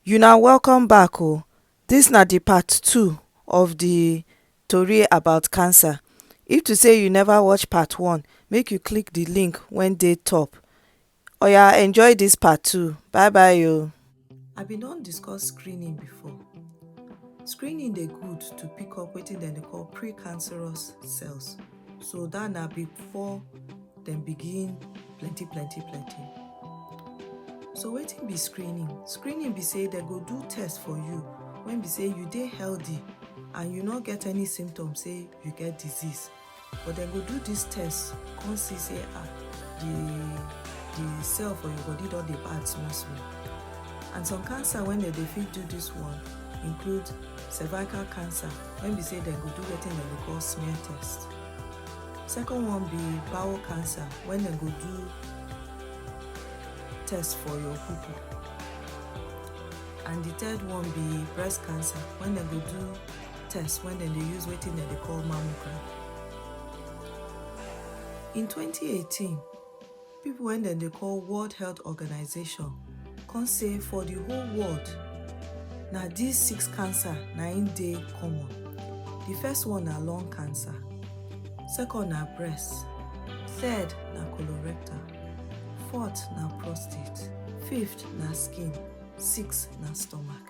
Una welcome back o, dis na di part two of di tori about cancer, if to sey you neva watch part one make you click di link wey dey top. Oya enjoy this part two bye bye o. I been don discuss screening before. Screening dey good to pick up wetin dem dey call pre-cancerous cells. So that na before dem begin plenty plenty plenty. So wetin be screening? Screening be say dem go do test for you when be say you dey healthy and you no get any symptoms say you get disease. But dem go do dis test come see say ah the the cell for your body don dey bad small small. And some cancer wey dem dey fit do dis one include cervical cancer wey be say dem go do wetin dem dey call smear test. Second one be bowel cancer wey dem go do test for your poo-poo. And the third one be breast cancer wey dem go do test when dem dey use wetin dem dey call mammogram. In 2018, people when dem dey call World Health Organization come say for the whole world, na these six cancer na im dey common. The first one na lung cancer, second na breast, third na colorectal, fourth na prostate, fifth na skin, sixth na stomach.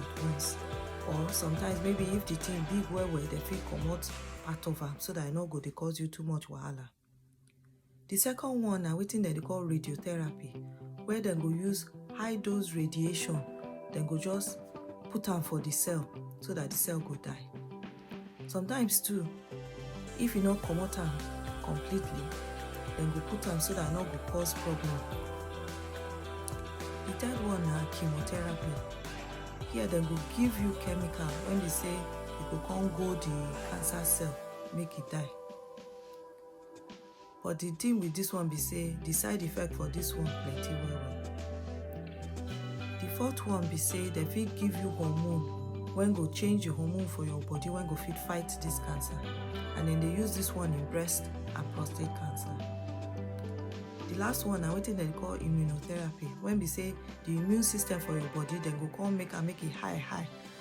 at once or sometimes maybe if the thing big well well dem fit comot part of am so that e no go dey cause you too much wahala the second one na wetin dem dey call radiotherapy where dem go use high dose radiation dem go just put am for the cell so that the cell go die sometimes too if you no comot am completely dem go put am so that e no go cause problem the third one na chemotherapy here dem go give you chemical when be say e go come go the cancer cell make e die But the thing with this one be say the side effect for this one plenty well well. The fourth one be say dem fit give you hormone wey go change the hormone for your body wey go fit fight this cancer and dem dey use this one in breast and prostate cancer. The last one na wetin dem dey call immunotherapy when be say the immune system for your body dem go come make am make e high high